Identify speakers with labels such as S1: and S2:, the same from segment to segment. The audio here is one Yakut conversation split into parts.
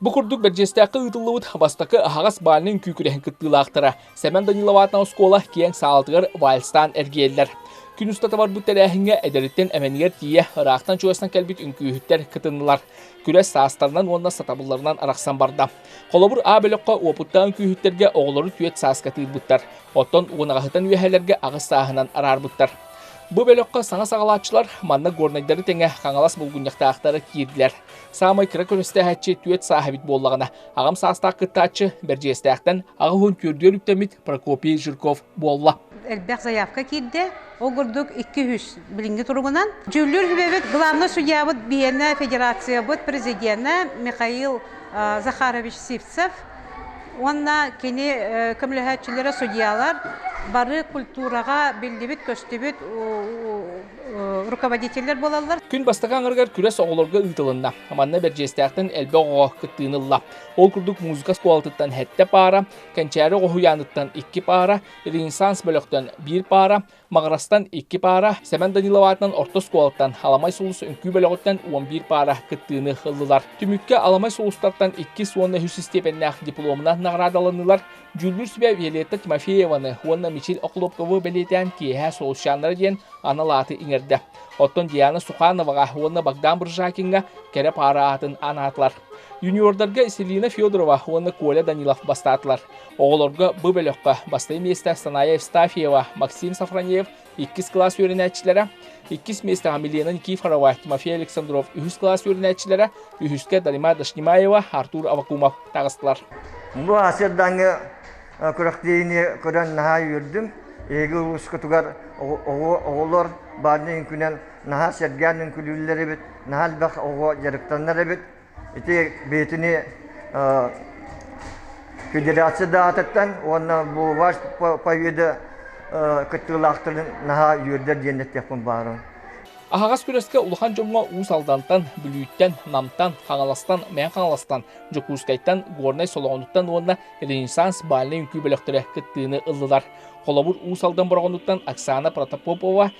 S1: Бу курдук Бэрдьиэстээххэ ыытыллыбыт бастакы аһаҕас бальнай күүкүрэһин кыттыылаахтара Сэмэн Даниловаатна оскуола киэҥ саалатыгар вальстаан эргийэллэр. Күн устата барбыт тэрээһиҥҥэ эдэриттэн эмэнигэр тиийэ ыраахтан чугастан кэлбит үҥкүүһүттэр кытыннылар. Күрэс саастарынан уонна сатабылларынан арахсан барда. Холобур, А бөлөххө уопуттаах үҥкүүһүттэргэ оҕолору түөрт сааска тыырбыттар. Оттон уонаҕаһытан үөһэлэргэ аҕыс сааһынан араарбыттар. Бу бөлөххө саҥа саҕалааччылар манна горнайдары тэҥэ Хаҥалас булгунньахтаахтара киирдилэр. Саамай кыра көрүстээһиччи түөрт сааһа эбит буоллаҕына, аҕам саастаах кыттааччы Бэрдьиэстээхтэн аҕа уһун түөрдүгэр үктэммит Прокопий Жирков буолла. Элбэх заявка
S2: киирдэ. Ол курдук икки-үс билиҥҥи туругунан. Дьүүллүүр сүбэбит главнай судьябыт биһиэнэ федерациябыт президенэ Михаил Захарович Сивцев, Уонна кини көмөлөһөөччүлэрэ судьялар бары культураҕа биллибит-көстүбүт руководителлэр буолаллар. Күн бастакы аҥарыгар
S1: күрэс оҕолорго ыытылынна. Манна Бэрдьиэстээхтэн элбэх оҕоҕо кыттыыны ылла. Ол курдук музыка оскуолатыттан сэттэ паара, Кэнчээри оҕо уһуйааныттан икки паара, Ренессанс бөлөхтөн биир паара, Маҕарастан икки паара, Сэмэн Данилов аатынан орто оскуолаттан Аламай сулус үҥкүү бөлөҕүттэн уон биир паара кыттыыны ыллылар. Түмүккэ Аламай сулустартан иккис уонна үһүс истиэпэннээх дипломунан наҕараадаланнылар. Дьүүллүүр сүбэ Виолетта Тимофееваны уонна Мичил Охлопкову бэлиэтээн киэһэ Солусчаннара диэн анал ааты иҥэрдэ. Оттон Диана Сухановаҕа уонна Богдан Бржакиҥҥа кэрэ паара аатын анаатылар. Юниордарга Селина Федорова уонна Коля Данилов бастаатылар. Оҕолорго бу бөлөххө бастакы миэстээх Саная Евстафьева, Максим Сафронеев иккис кылаас үөрэнээччилэрэ, иккис миэстээх Амелена Никифорова, Тимофей Александров үһүс кылаас үөрэнээччилэрэ, үһүскэ Дарима Дашнимаева, Артур Авакумов таҕыстылар. Бу
S3: Аасырдааҥҥы күрэхтэһиини көрөн наһаа үөрдүм. Эһиги улуускутугар оҕолор баарын үҥкүнэн наһаа сэргээн үҥкүүлүүллэр эбит, наһаа элбэх оҕо дьарыктанар эбит. Ити бэйэтини федерация даатыттан уонна бу ваш поведа кыттыылаахтарын наһаа үөрдэр диэн эттэхпин баарым. Аһаҕас
S1: күрэскэ улахан дьоҥҥо Уус Алдантан, Бүлүүттэн, Намтан, Хаҥаластан, Мээн Хаҥаластан, Дьокуускайтан, Горнай Солоҕонуттан уонна Ренессанс бальнай үҥкүү бөлөхтөрө кыттыыны ыллылар. Холобур, Уус Алдан Бороҕонуттан Оксана Протопопова,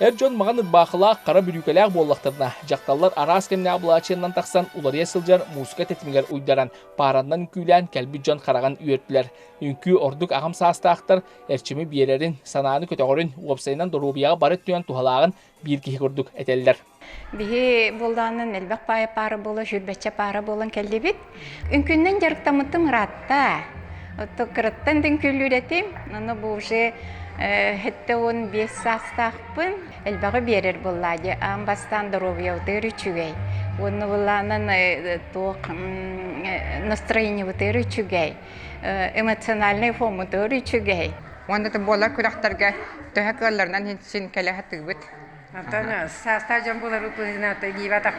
S4: Эр дьон маҕан
S1: ырбаахылаах, хара бүрүүкэлээх буоллахтарына, дьахталлар араас кэмнээх былаачыйаннан тахсан уларыйа сылдьар мууска тэтимигэр уйдаран, паараннан үҥкүүлээн кэлбит дьон хараҕын үөртүлэр. Үҥкүү ордук аҕам саастаахтар эрчими биэрэрин, санааны көтөҕөрүн, уопсайынан доруобуйаҕа бары өттүнэн туһалааҕын биир киһи курдук этэллэр. Биһи
S5: буолдааннан элбэх паайа паара буола, сүрбэччэ паара буолан кэллибит. Үҥкүннэн дьарыктаммытым ыраатта. Оттон кыраттан дүҥкүллүүрэтим, аны бу уже хэттэ уон биэс саастаахпын. Элбэҕи биэрэр буоллаа дии, аан бастаан доруобуйабытыгар үчүгэй. Уонна буолаанан туох настроениебытыгар үчүгэй, эмоциональнай формабытыгар үчүгэй. Уонна да буолар
S6: күрэхтэргэ төһө кыалларынан син кэлэ сатыыбыт. Онтон
S7: саастаах дьон булар ытыһынан иибатах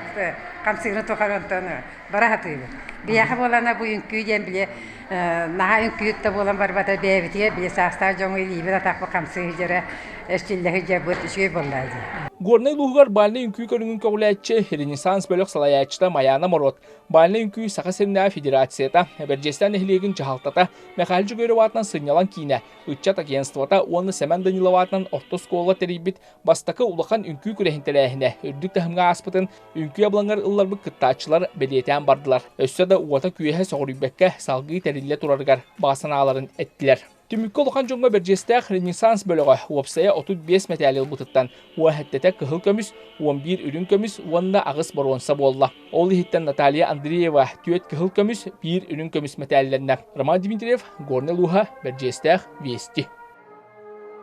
S7: хамсыгыны тухары онтон бара сатыыбыт. Биһиэхэ буолана бу үҥкүү диэн били наһаа үҥкүүт да буолан барбата бэйэбитигэр били саастаах дьоҥҥо илиибит атахпыт хамсыы сыдьара эччиллэ сыдьарбыт үчүгэй буоллаа дии. Горнай улууһугар
S1: бальнай үҥкүү көрүҥүн көҕүлээччи, Ренессанс бөлөх салайааччыта Майаана Морот, бальнай үҥкүү Саха сиринээҕи федерацията, Бэрдьэстэн нэһилиэгин дьаһалтата, Михаил Жегорев аатынан сынньалаҥ киинэ, ыччат агентствота уонна Сэмэн Данилов аатынан орто оскуолаҕа тэрийбит Бастакы улахан үҥкүү күрэһин тэрээһинэ үрдүк таһымҥа ааспытын үҥкүү абылаҥар ылларбыт кыттааччылар бэлиэтээн бардылар. Өссө да уота-күөһэ соҕуруйбакка салгыы тэриллэ турарыгар баҕа санааларын эттилэр. Түмүккэ улахан дьоҥҥо бэрдьиэстээх Ренессанс бөлөҕө уопсайа 35 мэтээли ылбытыттан уоһэттэтэ кыһыл көмүс, 11 үрүҥ көмүс уонна аҕыс боруонса буолла. Ол иһиттэн Наталья Андреева 4 кыһыл көмүс, 1 үрүҥ көмүс мэтээллэннэ. Роман Дмитриев, Горнай Луха, бэрдьиэстээх Вести.